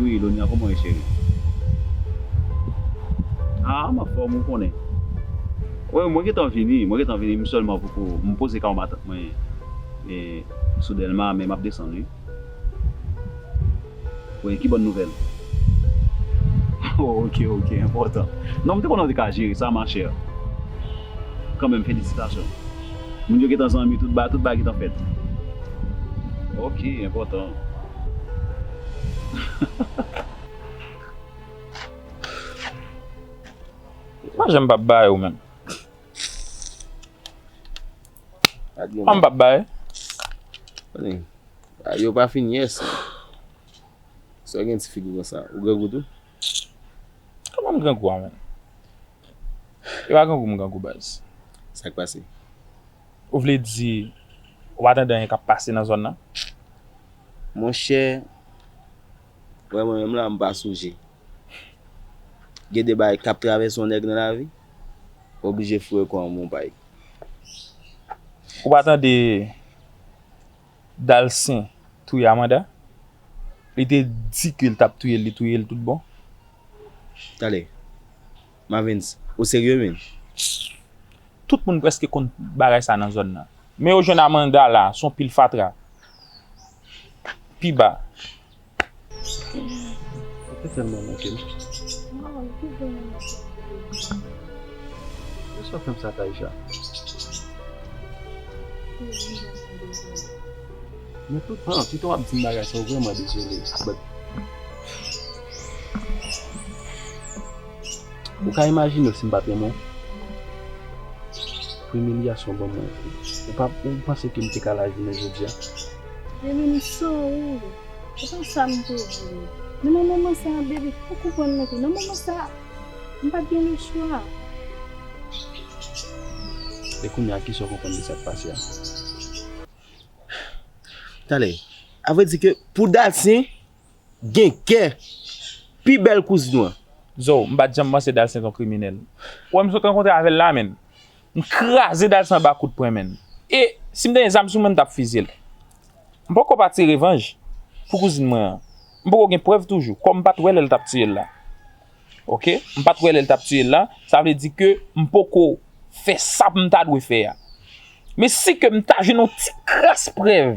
Ui lonya koman w ye cheri. Ah m anfòm ou konnen. Wi mwen gentan vini mwen gentan vini m sèlman poko m poze kay matant mwen sou delma men map desann wi wi ki bòn nouvèl oh ok ok enpòtan non m te konnen w te ka jere sa ma chère kanmenm felisitasyon. Moun yo gentan zanmi tout ba tout ba gentan fèt ok enpòtan. Ou pa janm pap bay ou menm. Pam pap bay. Bagay yo pa fin yes. Sa gen ti figi konsa. Ou grangou tou? Kòman m grangou a menm? Epa grangou m grangou baz. Sak pase? Ou vle di ou pa tande anyen kap pase nan zòn nan? Monchè, wè mwen menm la m pa sonje. Gen de bagay kap travèse yon nèg nan lavi, ou oblije foure kò an monpay. Ou pa tande. Dalcin touye Amanda li te di ke li tap touyel li touyel tout bon. Tale. Mavens ou serye menn. Tout moun preske konn bagay sa nan zòn nan. Men yo jwenn Amanda la son pil fatra. Pi ba. Mwen telman manke nou. Mwen ki jan mwen manke nou. Mwen sot fèm sa Taïsha. Mwen tout tan, tout tan wap di m bagay sa ou vreman dezole. But Ou ka imajine w si m pat renmen w? Pou imilyasyon w banm nan, ou panse ke m te ka la jounen jodia? Baby m sorry se pa sa m te vle men nan moman sa baby ou konprann mwen tou nan moman sa m pat gen le chwa. E kounya kisa w konprann de sa k pase a? Tande, a vrè di ke pou Dasyen. Gen kè. Pi bèl kouzn wan. Zo, m pat janm panse Dalsen t on kriminèl. Wè m sot rankontre avè l la menn. M kraze Dalsen anba kout pwen menn. E, si m te gen zam sou mwen m t ap fizye l. M poko pa tire revanj pou kouzin mwen an. M poko gen prèv toujou. Kòm m pat wè lè l t ap tiye l la. Ok. M pat wè lè l t ap tiye l la. Sa vle di ke m poko fè sa m ta dwe fè a. Men si ke m ta jwenn on ti kras prèv.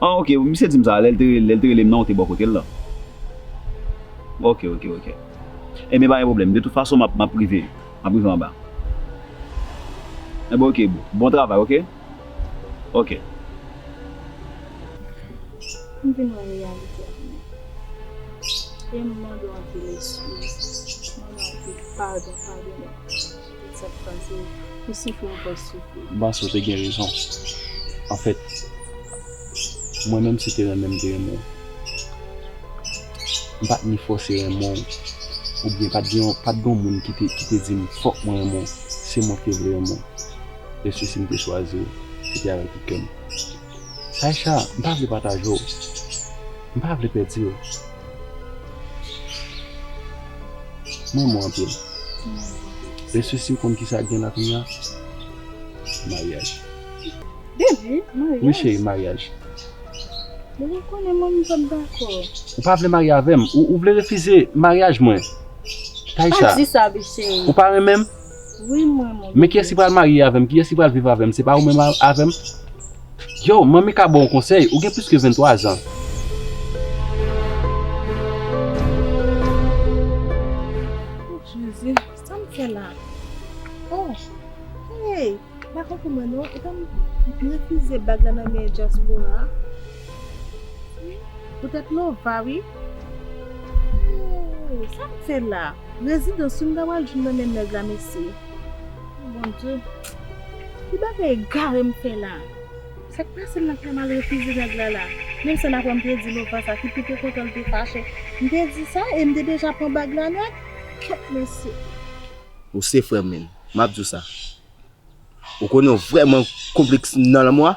Ah ok, misye dim sa, lèl te lèl te relem nan ou te bò kotel lan. Ok ok ok. Ebyen pa gen pwoblèm, de tout fason map map rive, map rive anba. Ebyen ok boo, bon travay ok. Ok. M vin wè reyalite a mwen. Ebyen m mande w anpil eskiz, m mande w anpil padon, padone m. M panse w te gen rezon. Anfèt, mwen menm se te renmen m te renmen w. M pa t ni fòse renmen w oubyen pa t gen yon moun ki te di m fòk mwen renmen w. Se mwen ki te vle renmen w. Lè sesi m te chwazi w, se te avèk tout kè m. Aïcha, m pa vle pataje w. M pa vle pèdi w. M renmen w anpil. Eswe si w konn kisa k gen la kounya? Maryaj. Devi, maryaj? Wi cheri, maryaj. Devi, ou konnen mwen m pa t dakò. Ou pa vle marye avè m? Ou vle refize maryaj mwen? Aïcha. Pa di sa vit cheri. Ou pa renmen m? Men kiyès ki pral marye avèm kiyès ki pral viv avèm se pa ou menm avèm yow manmi ka baw konsèy ou gen plis ke 23 zan. Jezi sam fè la oh hey. M pa konprann mwen non, epa m refize bag la nan men dyaspora a? Wi, poutèt Nova wi. Ooh, sa m fè la? Rezidans wi m ta pral jwenn nan men nèg la mesye. Oh Bondye, ki bagay egare m fè la? Sa k pase m nan fè m al refize nèg la la? Menm san apre m te di Nova sa ki pi te kontan l te fache. M te di sa e m te deja pran bag la nèt. Kèt mesye! Ou se frè m menn. Map diw sa. Ou konnen ou vrèman konplis nan lanmò a?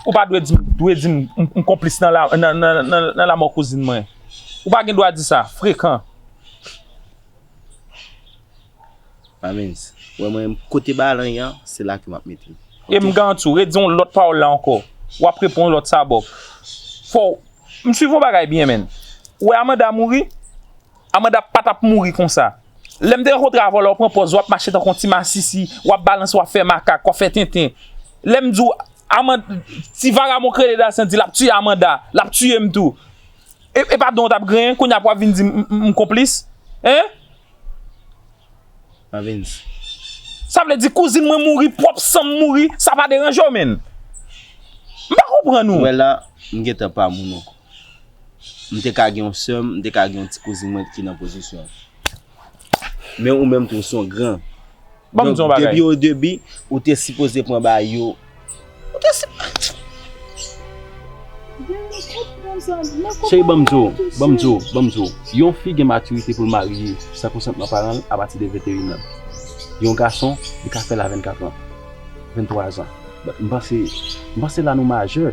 Ou pa dwe dim, dwe dim m konplis nan la, nan, nan, nan lanmò kouzin mwen. Ou pa gen dwa di sa, frekan. Mamens, wè mwen kote balan yan, se la ke map mete. E m garanti w, redi yon lòt pawòl la ankò, wap repon yon lòt sabòk. Fòw, m swiv yon bagay byen menn. Ou wè Amanda mouri? Amanda pa tap mouri konsa. Lèm te rankontre avè w la ou pran pòz wap mache tankou yon ti masisi, wap balanse wap fè makak, wap fè tenten. Lèm di w Amanda ti vagabon kreye Dasyan di lap tiye Amanda, lap tiye m tou. E pa dan w tap griyen kounye a pou wap vin di m konplis? Hein? Mavens. Sa vle di kouzin mwen mouri, pwòp san m mouri, sa pa deranje w menn? M pa konprann ou. Ou wè la, m gentan pa moun ankò. M te ka gen yon sè m, m te ka gen yon ti kouzin mwen ki nan pozisyon w. Men ou menm tou ou se yon gran. Ban m di yon bagay. Depi o debi, ou te sipoze pran ba yo. Ou te sipoze. Gen yon kout pran sa. Cheri ban m di w, ban m di w, ban m di w. Yon fi gen matirite pou l marye san konsantman paran l apati de 21 an. Yon gason, li ka fè l a 24 an. 23 an. M panse, m panse la nou majè.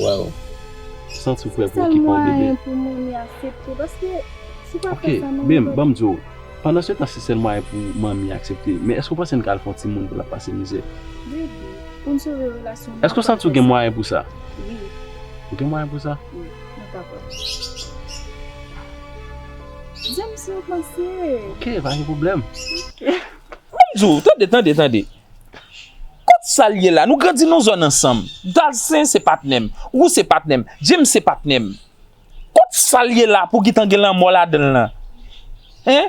Waw Santi w fre pou okipe yon bebe Ok bem banm di w Pandan se tan se sèl mwayen pou manmi aksepte Men èske w panse n ka al fè yon timoun pou l ap pase mizè Èske w santi w gen mwayen pou sa Ou gen mwayen pou sa Ok pa gen pwoblèm Tande tande Kot sal ye la nou grandi nou zòn ansanm dalsen se patnèm wou se patnèm james se patnèm kot sal ye la pou gitan gen lanmò ladanl lan hein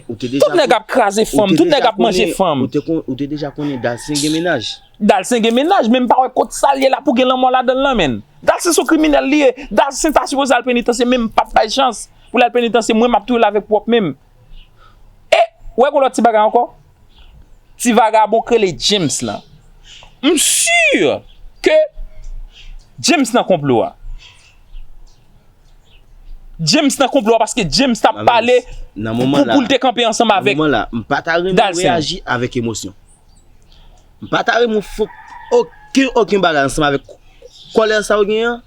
tout nèg ap kraze fanm tout nèg ap manje fanm ou te deja konnen dalsen gen mennaj dalsen gen mennaj men pa wè kot sal ye la pou gen lanmò ladanl lan menn dalsen son kriminèl li ye dalsen ta sipoze al penitansye menm pap bay chans poul al penitansye mwen map touyel avèk pwòp menm e wè gon lòt ti bagay ankò. Ti vagabon k rele James lan. M sur ke James nan konplo a. James nan konplo a paske James ta pale pou l te kanpe ansanm avèk Dalcin. Nan moman la, m pa ta renmen reyaji avèk emosyon. M pa ta renmen fè oken oken bagay ansanm avèk kòlè sa ou gen an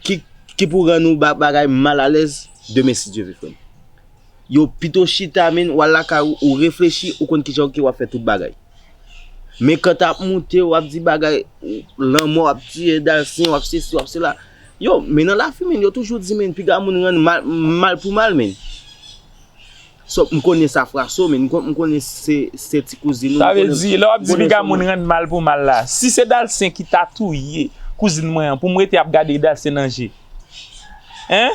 ki pou rann ou bagay mal alèz demen si Dye vle frè m. Yo pito chita menn wal lakay ou ou reflechi ou konn kijan ok wap fè tout bagay men kan tap moute wap di bagay lanmò wap tiye dalsen wap sesi wap sela yo men nan lafi menn yo toujou di menn piga moun rann mal pou mal menn sop m konnen sa fraso menn m konnen se ti kouzin ou sa vle di lè wap di piga moun rann mal pou mal la si se dalsen ki ta touye kouzin mwen an poum rete ap gade dalsen nan je. Hein?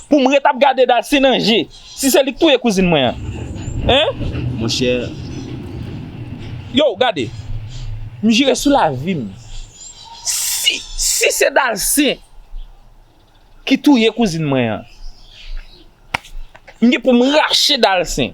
Pou m ret ap gade Darcy nan je, si se li k touye kouzin mwen an? Hein? Monchè. Yow gade, m jire sou lavi m, si, si se Darcy ki touye kouzin mwen an, m gen pou m rache Darcy.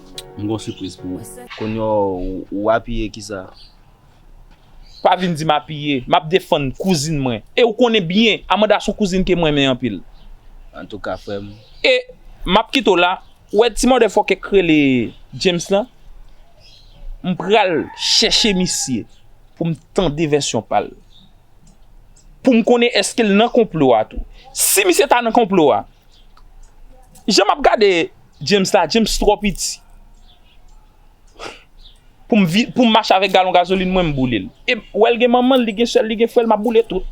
M gon sipriz pou ou. Konnya ou apiye kisa? Pa vin di m apiye, m ap defann kouzin mwen. E ou konnen byen, Amanda son kouzin ke m renmen anpil. Antouka frè m. E, m ap kite w la. Ou wè ti mòde fòkè k rele James lan? M pral chèche misye pou m tande vèsyon pa l. Pou m konnen èske l nan konplo a tou. Si misye ta nan konplo a, jan m ap gade. James la James trò piti poum vin poum mache avèk galon gazolin mwen m boulel e wèl gen manmanl li gen sèl li gen frèl map boule tout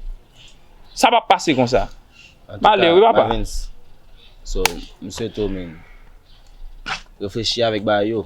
sa pap pase konsa male wi papa so m swete w men reflechi avèk bagay yo.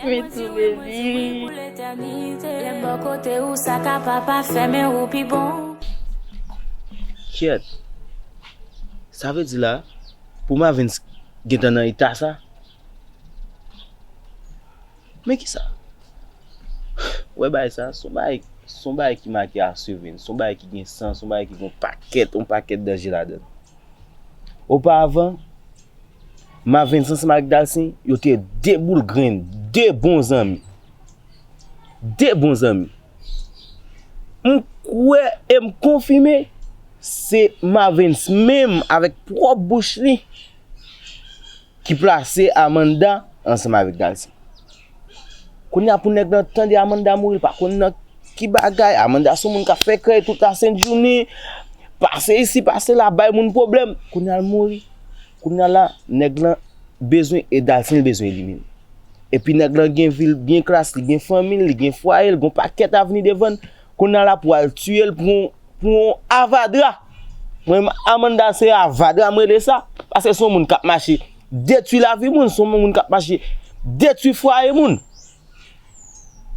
Mwen toube rii. Kyèt! Sa vle di la, pou Mavens gentan nan eta sa? Men kisa? Wè bagay sa, son bagay, son bagay ki make a sevre, son bagay ki gen san, son bagay ki gen yon pakèt, yon pakèt danje ladan l. Opa avan. Mavens ansanm avèk Dalsin, yo te de boul grenn, de bon zanmi. De bon zanmi. M kwè e m konfime, se Mavens menm avèk pwòp bouch li ki plase Amanda ansanm avèk Dalsin. Kounya pou nèg lan tande Amanda mouri l pa konn nan ki bagay, Amanda son moun kap fè krèy tout la sent jounen, pase isi pase la bay moun pwoblèm, kounya l mouri, kounya la nèg lan bezwen Edal san l bezwen Edimine. Epi nèg lan gen vi l byen klas, li gen fanmi l, li gen fwaye l, gon pakèt avni devan l, kounya la pou al tiye l pou yon Pou yon avadra. Mwen menm Amanda se avadra m rele sa. Paske se yon moun k ap mache detwi lavi moun. Se yon moun k ap mache detwi fwaye moun.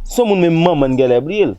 Se yon moun menm manman n genlè bliye l.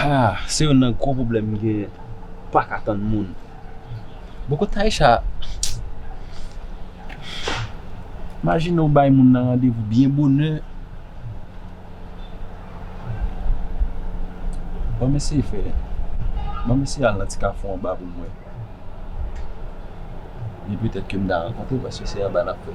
Haa se youn nan gwo pwoblèm m genyen paka tann moun bon kot Taïsha majine ou bay moun nan randevou byen bonè banm eseye fè banm eseye al nan ti kafou anba pou m wè li petèt ke m ta rankontre paske se anba nap fè.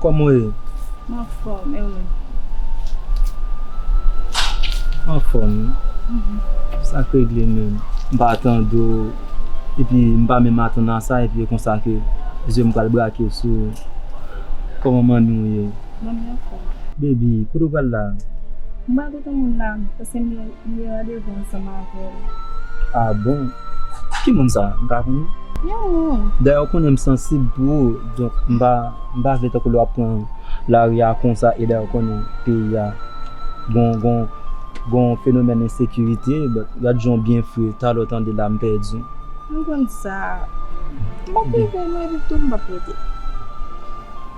Kòman ou ye? M anfòm, e ou menm? M anfòm wi. Sa k regle menm? M pa tande w epi m pa menm atann a sa epi e konsa ke je m pral brake sou ou. Kòman manmi w ye? Manmi anfòm. Bebi, kote w pral la? M pral. Pou moun la paske m gen randevou ansanm avèl. Ah bon ki moun sa m ka konnen? Yon moun. Dayè ou konnen m sansib pou ou donk m pa m pa vle tankou lè wap pran lari a konsa e dayè ou konnen peyi a gon gon gon fenomèn ensekirite but gad jan w byen fre talè w tande la m pèdi. M konn sa. M pap rive m ap rive tou m pap rete.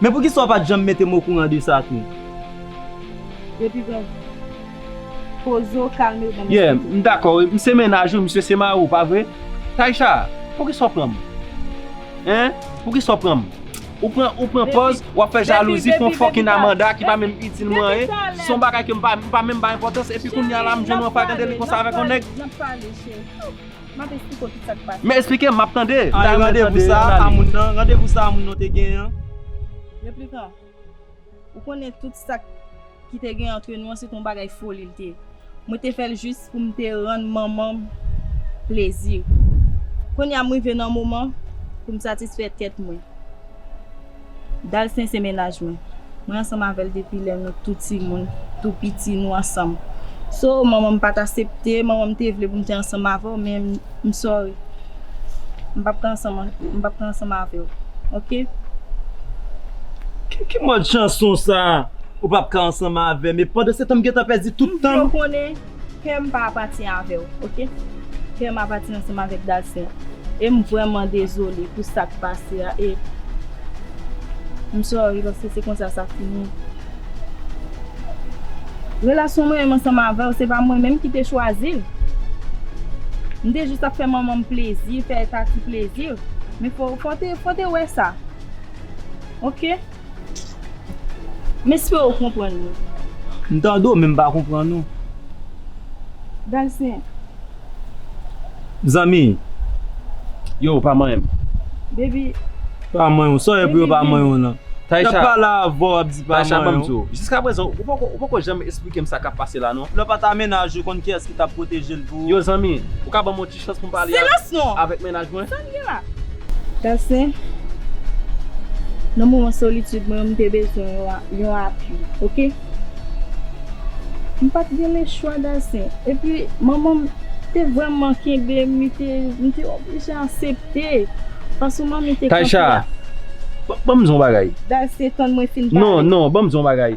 Men poukisa w pat janm metem okouran de sa tou. Depi gen Pozo kalmew banm Yeah m m dakò wi m se mennaj ou misye se mari w pa vre Taïsha poukisa w pranm hein poukisa w pranm ou pran ou pran pòz wap fè jalouzi pou yon fucking Amanda ki pa menm itil mwen anyen se yon bagay ke m pa menm bay enpòtans epi kounya la m jwenn yon fagandeli konsa avèk yon nèg. Map esplike w tout sak pase. Men esplike m map tande. An e randevou sa a moun nan, randevou sa a moun nan te genyen an? Replikan, Ou konnen tout sak ki te genyen antre nou an se te yon bagay foli l te ye. Mwen te fè l jis pou m te rann manman m plezi. Kounye a m rive nan moman pou m satisfè tèt mwen. Dalcin se mennaj mwen. Mwen ansanm avèl depi lè nou tou timoun, tou piti nou ansanm. So manmanm pat asepte, manmanm te vle pou m te ansanm avèw men m sorry. M pap ka ansanm m pap ka ansanm avèw ok. Ki mòd chanson sa ou pap ka ansanm avèm e pandansetan m gentan pèdi tout tanm. Kèm pa apati avèw ok. Kèm apati ansanm avèk Dasien em vrèman dezole pou sak pase a e m sorry paske se konsa sa fini. Relasyon mwen menm ansanm avèw se pa mwen menm ki te chwazil. M te jis ap fè manmanm plezi, fè Tati plezi men fòw te wè sa ok. M espere ou konprann mwen. M tande w men m pa konprann ou. Dalcin. Zanmi yo pa manyen m. Baby. Pa manyen w. Sa w ye pou yo pa manyen w lan? Taïcha. Nap pale avè w wap di pa manyen w. Taïcha banm di w. Jiska prezan ou poko janm esplike m sa kap pase la non. Lè w pat amenaj ou konn kiyès ki tap pwoteje l pou ou. Yo zanmi. Ou ka banm yon ti. Chans pou m pale avèk mennaj mwen. Sa n gen la? Tansyen, Nan moman solitid mwen yo m te bezwen yon apui ok. M pat gen lechwa Tansyen. Epi manman m te vrèman kenbe m li te, m te oblije asepte. Fason manmi te kanpe a. Taysha, banm di yon bagay. Tansyen, Tann mwen fin pale. Non, non, banm di yon bagay.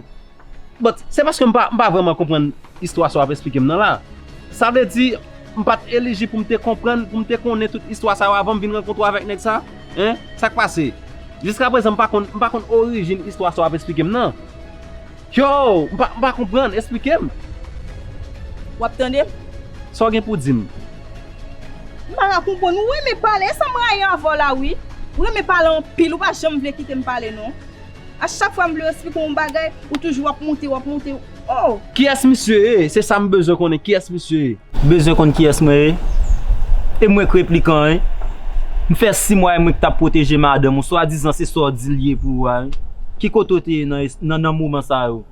But, se paske m pa vrèman konprann istwa sa w ap esplike m nan la. Sa vle di, m pa t elijib pou m te konprann, pou m te konnen tout istwa sa yo avan m vin rankontre w avèk nèg sa? Hein? Sa k pase? Jiskaprezan m pa konn, m pa konn orijin istwa sa w ap esplike m nan. Yow! M pa, m pa konprann, esplike m! W ap tande m? Sa w gen pou w di m? M pa ka konprann. Ou renmen pale, e sa m rayi avè w la wi. Ou renmen pale anpil, ou pa janm vle kite m pale non. A chak fwa m vle w esplike w yon bagay, ou toujou ap moute, wap moute, oh! Kiyès misye ye? Se sa m bezwen konnen, kiyès misye ye? Bezwen konn kiyès mwen ye? E mwen k replikan wi. M fè 6 mwa e mwen k t ap pwoteje madanm ou, swadizan se sa w di l ye pou ou a wi. Ki kote w te ye nan nan moman sa yo?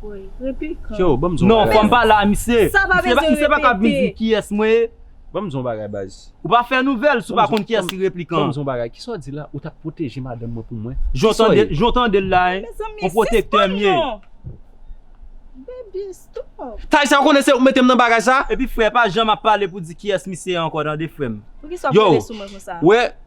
Woy, replikan. Freo, ban m di w yon bagay. Non, fò m pale a misye. Sa pa bezwen repete. Misye pa kab vin di kiyès mwen ye. Ban m di w yon bagay baz. Ou pa fè nouvèl si w pa konn kiyès ki replikan an. Ban m di w yon bagay, kisa w di la, ou t ap pwoteje madanm mwen pou mwen? Jan w tande l la, yon pwotektè m ye. Tay sa ou konnen se ou k mete m nan bagay sa? Epi frè pa janm ap pale pou di kiyès misye ye ankò tande frè m. Yo, ou wè.